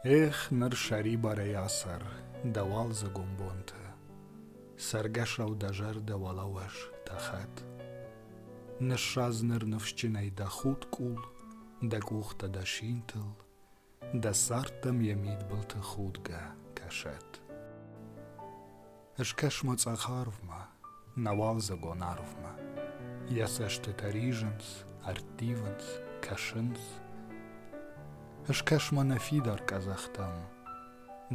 Эх, ныр сӕрибарӕй ацӕр дӕ уалдзӕгон бонты, Цӕргӕсау дӕ зӕрдӕ уӕлӕуӕз дӕ хӕт. Ныссадз ныр ныфсджынӕй дӕ худ къул, Дӕ къухтӕ дӕ синтыл, Дӕ цардтӕм йӕ мидбылты худгӕ кӕсӕд. Скӕс ма цъӕх арвмӕ, нӕ уалдзӕгон арвмӕ. Йӕ цӕстытӕ ризынц, ӕрттивынц, кӕсынц. Скӕс ма нӕ фидар къӕдзӕхтӕм.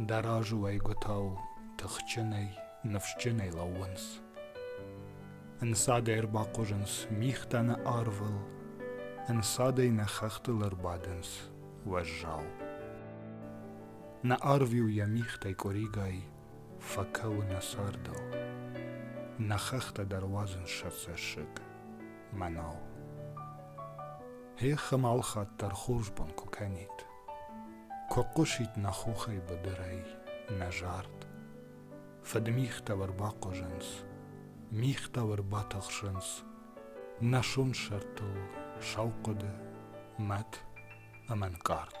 Дӕ разы уӕйгуытау тыхджынӕй, ныфсджынӕй лӕууынц. Ӕнцадӕй ӕрбахъуызынц мигътӕ нӕ арвыл, ӕнцадӕй нӕ хӕхтыл ӕрбадынц. уӕззау. Нӕ арвиу йӕ михтӕй къуыригай, фӕкӕуы нӕ цардыл. Нӕ хӕхтӕ дӕр уадзын сӕ цӕссыг, мӕнау. Хехым алхатт дӕр хорз бон куы кӕнид. Куы хъусид нӕ хохӕй быдырӕй, нӕ зард. Фыдмихтӕ ӕрбахъуызынц, михтӕ ӕрбатӕхсынц, Нӕсон сӕртыл сау хъуыды, мӕт ӕмӕ нкъард.